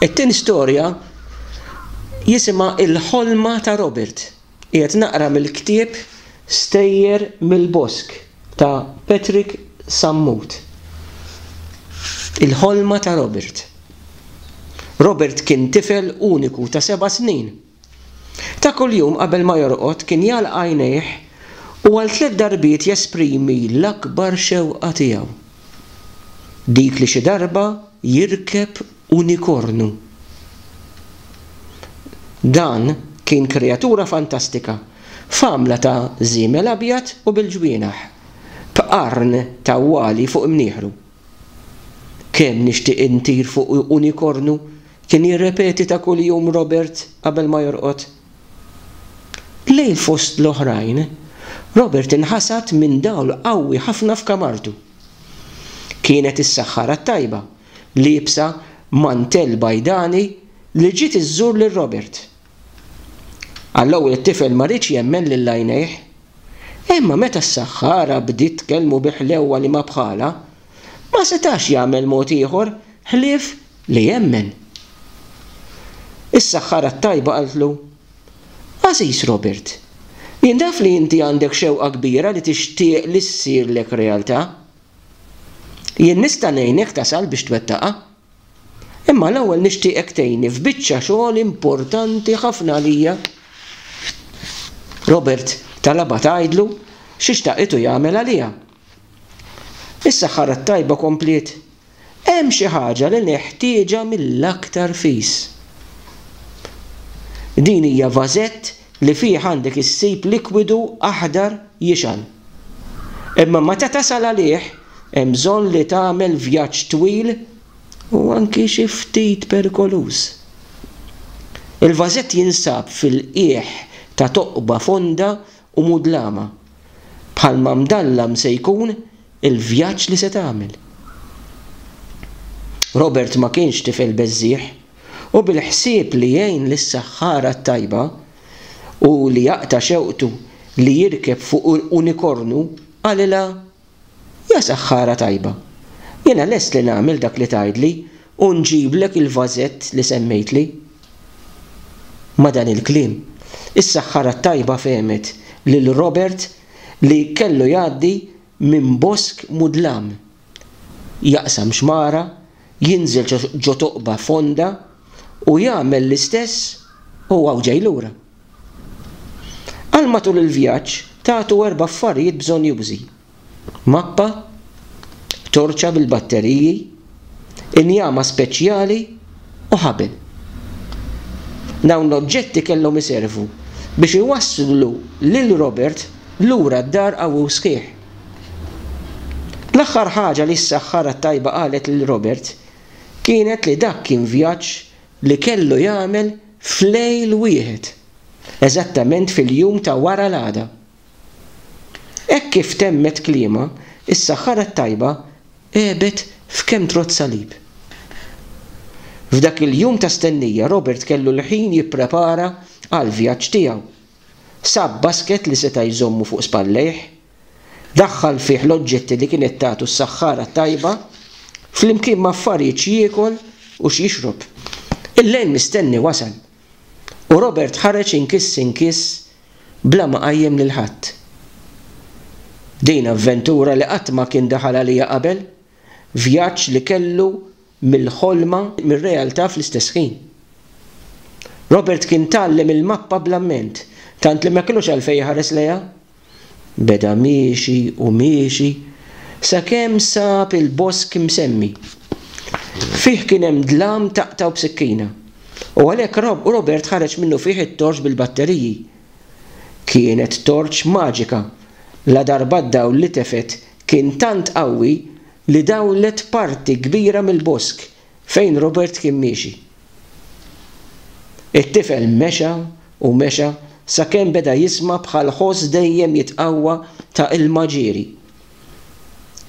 It-tieni storja jisimha Il-Ħolma ta' Robert. Qiegħed naqra mill-ktieb Stejjer mill-Bosk ta' Patrick Sammut. Il-Ħolma ta' Robert. Robert kien tifel uniku ta' seba' snin. Ta' kuljum qabel ma jorqod kien jagħlaq għajnejh u għal tliet darbiet jesprimi l-akbar xewqa tiegħu, dik li xi darba jirkeb unikornu. Dan kien kreatura fantastika, f'għamla ta' żiemel abjad u bil-ġwienaħ, b'qarn ta' għwali fuq imnieħru. Kemm nixtieq intir fuq unikornu! Kien jirrepeti ta' kuljum Robert qabel ma jorqod. Lejl fost l-oħrajn, Robert inħasad minn dawl qawwi ħafna f'kamartu. Kienet is-saħħara t-tajba, liebsa mantell bajdani li ġiet iżżur lil Robert. Għall-ewwel it-tifel ma riedx jemmen lil għajnejh. Imma meta s-saħħara bdiet tkellmu bi ħlewwa li ma bħalha, ma setax jagħmel mod ieħor ħlief li jemmen. Is-Saħħara t-Tajba qaltlu, Għażiż Robert, jien naf li inti għandek xewqa kbira li tixtieq li ssirlek realtà. Jien nista' ngħinek tasal biex twettaqha. Imma l-ewwel nixtieqek tgħinni f'biċċa xogħol importanti ħafna għalija. Robert talabha tgħidlu xi xtaqithu jagħmel għaliha. Is-saħħara t-tajba kompliet, Hemm xi ħaġa li neħtieġha mill-aktar fis. Din hija vażett li fih għandek issib likwidu aħdar jixgħal. Imma meta tasal għalih, hemm bżonn li tagħmel vjaġġ twil u anki xi ftit perikoluż. Il-vażett jinsab fil-qiegħ ta' toqba fonda u mudlama, bħalma mdallam se jkun il-vjaġġ li se tagħmel. Robert ma kienx tifel beżżiegħ, u bil-ħsieb li jgħin lis-saħħara t-tajba u li jaqta' xewqtu li jirkeb fuq unikornu, qalilha, Ja saħħara tajba! Jiena lest li nagħmel dak li tgħidli u nġiblek il-vażett li semmejtli. Ma' dan il-kliem, is-saħħara t-tajba fehmet lil Robert li kellu jgħaddi minn bosk mudlam, jaqsam xmara, jinżel ġo toqba fonda u jagħmel l-istess u hawn ġej lura. Għal matul il-vjaġġ tagħtu erba' affarijiet bżonjużi, mappa, torċa bil-batteriji, injama speċjali u ħabel. Dawn l-oġġetti kellhom iservu biex iwasslu lil Robert lura d-dar qawwi u sħiħ. L-aħħar ħaġa li s-saħħara t-tajba qalet lil Robert kienet li dak kien vjaġġ li kellu jagħmel f'lejl wieħed, eżattament fil-jum ta' wara l-għada. Hekk kif temmet kliemha, is-Saħħara t-Tajba għebet f'kemm trott salib. F'dak il-jum ta' stennija, Robert kellu l-ħin jipprepara għall-vjaġġ tiegħu. Sab basket li seta' jżommu fuq spallejh, Daħħal fih l-oġġetti li kienet tagħtu s-saħħara t-tajba, flimkien m'affarijiet x'jiekol u x'jixrob. Il-lejl mistenni wasal, u Robert ħareġ inkiss inkiss bla ma qajjem lil ħadd. Din avventura li qatt ma kien daħal għaliha qabel, vjaġġ li kellu mill-ħolma mir-realtà fl-istess ħin. Robert kien tgħallem il-mappa bl-amment, tant li ma kellux għalfejn iħares lejha. Beda miexi u miexi sakemm sab il-bosk imsemmi. Fih kien hemm dlam taqtgħu b'sikkina, u għalhekk Robert ħareġ minnufih it-torċ bil-batteriji. Kienet torċ maġika, ladarba d-dawl li tefgħet kien tant qawwi li dawlet parti kbira mill-bosk fejn Robert kien miexi. It-tifel mexa u mexa sakemm beda jisma' bħal ħoss dejjem jitqawwa ta' ilma ġieri.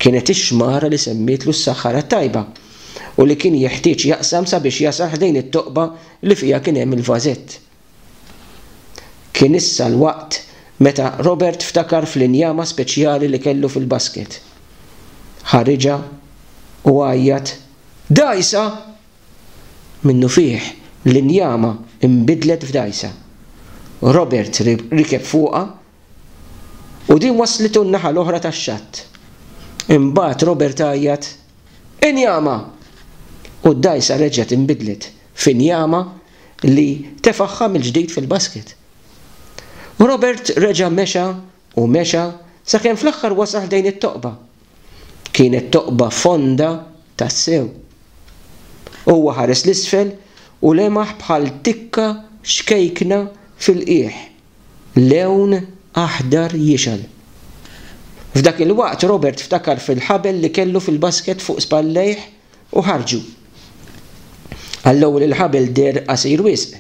Kienet ix-xmara li semmietlu s-Saħħara t-Tajba u li kien jeħtieġ jaqsam sabiex jasal ħdejn it-toqba li fiha kien hemm il-vażett. Kien issa l-waqt meta Robert ftakar fl-injama speċjali li kellu fil-basket. Ħariġha u għajjat, Dgħajsa! Minnufih l-injama nbidlet f'dgħajsa. Robert rikeb fuqha u din wasslitu n-naħa l-oħra tax-xatt. Imbagħad Robert għajjat, Injama! U d-dgħajsa reġgħet inbidlet f'injama li tefagħha mill-ġdid fil-basket. U Robert reġa' mexa u mexa sakemm fl-aħħar wasal ħdejn it-toqba. Kienet toqba fonda tassew. Huwa ħares 'l isfel u lemaħ bħal tikka xkejkna fil-qiegħ, lewn aħdar jixgħel. F'dak il-waqt Robert ftakar fil-ħabel li kellu fil-basket fuq spallejh U ħarġu. Għall-ewwel il-ħabel deher qasir wisq.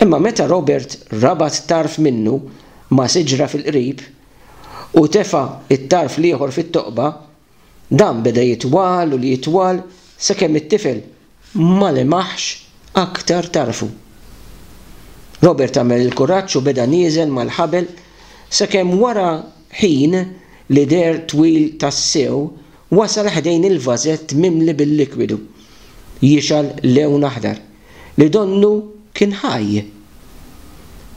Imma meta Robert rabat tarf minnu ma' siġra fil-qrib u tefa' t-tarf l-ieħor fit-toqba, dan beda jitwal u jitwal sakemm it-tifel ma lemaħx aktar tarfu. Robert għamel il-kuraġġ u beda nieżel mal-ħabel sakemm wara ħin li deher twil tassew wasal ħdejn il-vażett mimli bil-likwidu jixgħal lewn aħdar li donnu kien ħaj.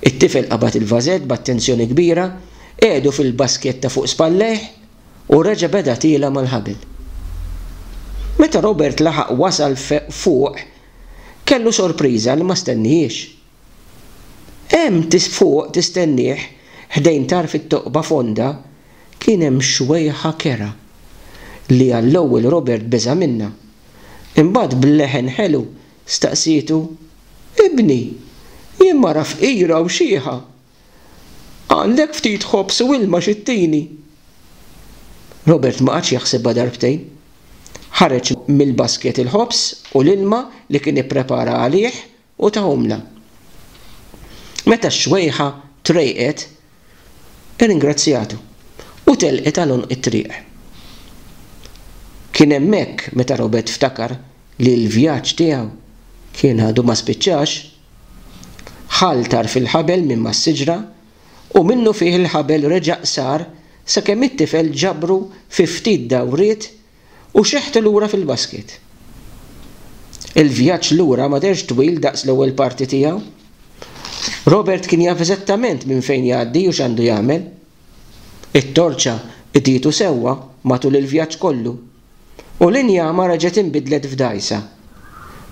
It-tifel qabad il-vażett b'attenzjoni kbira, qiegħdu fil-basketta fuq spallejh u reġa' beda tiela' mal-ħabel. Meta Robert laħaq wasal fuq kellu sorpriża li ma stennihiex. Hemm fuq tistennieh, ħdejn tarf it-toqba fonda, kien hemm xwejħa kerha, li għall-ewwel Robert beża' minnha. Imbagħad b'leħen ħelu staqsietu, Ibni, jien mara fqira u xieħa. Għandek ftit ħobż u ilma xi ttini? Robert ma qagħadx jaħsibha darbtejn. Ħareġ mill-basket il-ħobż u l-ilma li kien ipprepara għalih u tahomlna. Meta x-xwejħa trejqet, irringrazzjatu u telqet għal għonq it-triq. Kien hemmhekk meta Robert ftakar li l-vjaġġ tiegħu kien għadu ma spiċċax. Ħall tarf il-ħabel minn mas-siġra u minnufih il-ħabel reġa' qsar sakemm it-tifel ġabru fi ftit dawriet U xeħtu lura fil-basket. Il-vjaġġ lura ma dehrx twil daqs l-ewwel parti tiegħu. Robert kien jaf eżattament minn fejn jgħaddi u x'għandu jagħmel. It-torċa qdietu sewwa matul il-vjaġġ kollu, u l-injama reġgħet inbidlet f'dgħajsa,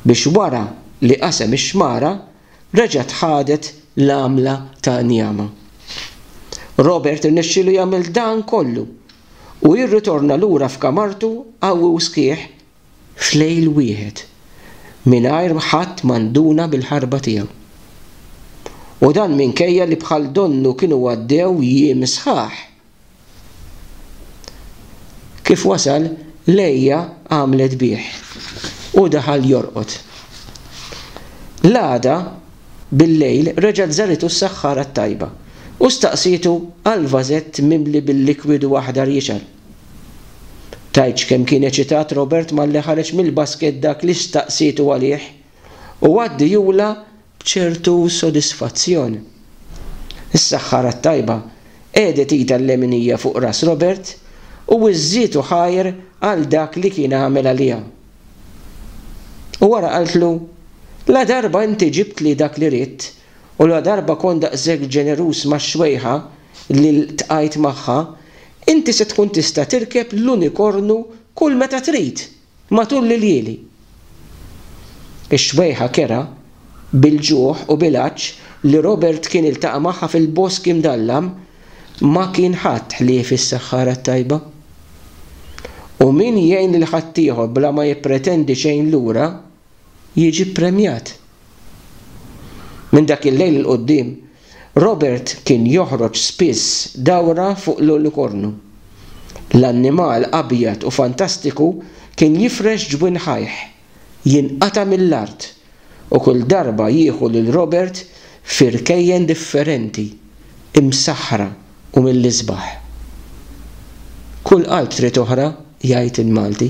biex wara li qasem ix-xmara reġgħet ħadet l-għamla ta' njama. Robert irnexxielu jagħmel dan kollu u jirritorna lura f'kamartu qawwi u sħiħ f'lejl wieħed mingħajr ħadd ma nduna bil-ħarba tiegħu. U dan minkejja li bħal donnu kienu għaddew jiem sħaħ. Kif wasal, Leia għamlet bih u daħal jorqod. L-għada, Billejl reġgħet żaritu s-saħħara t-tajba u staqsietu għal vażett mimli bil-likwidu aħdar jixgħel. Tgħidx kemm kien eċitat Robert malli ħareġ mill-basket dak li staqsietu għalih u għaddi jula b'ċertu sodisfazzjon. Is-saħħara t-tajba qegħdet idha l-leminija fuq ras Robert u wiżżitu ħajr għal dak li kien għamel għaliha. U wara qaltlu, Ladarba inti ġibtli dak li ridt, u ladarba kont daqshekk ġeneruż max-xwejħa li ltqajt magħha, inti se tkun tista' tirkeb l-unikornu kull meta trid, matul l-iljieli. Ix-xwejħa kerha, bil-ġuħ u bil-għatx li Robert kien iltaqa' magħha fil-bosk imdallam, Ma kien ħadd ħlief is-saħħara t-tajba. U min jgħin lil ħaddieħor bla ma jippretendi xejn lura, jiġi ppremjat. Minn dak il-lejl 'il quddiem, Robert kien joħroġ spiss dawra fuq l-unikornu. L-annimal abjad u fantastiku kien jifrex ġwinħajh. jinqata' mill-art u kull darba jieħu lil Robert fi rkejjen differenti, imsaħħra u mill-isbaħ. Kull qalb trid oħra, jgħid il-Malti.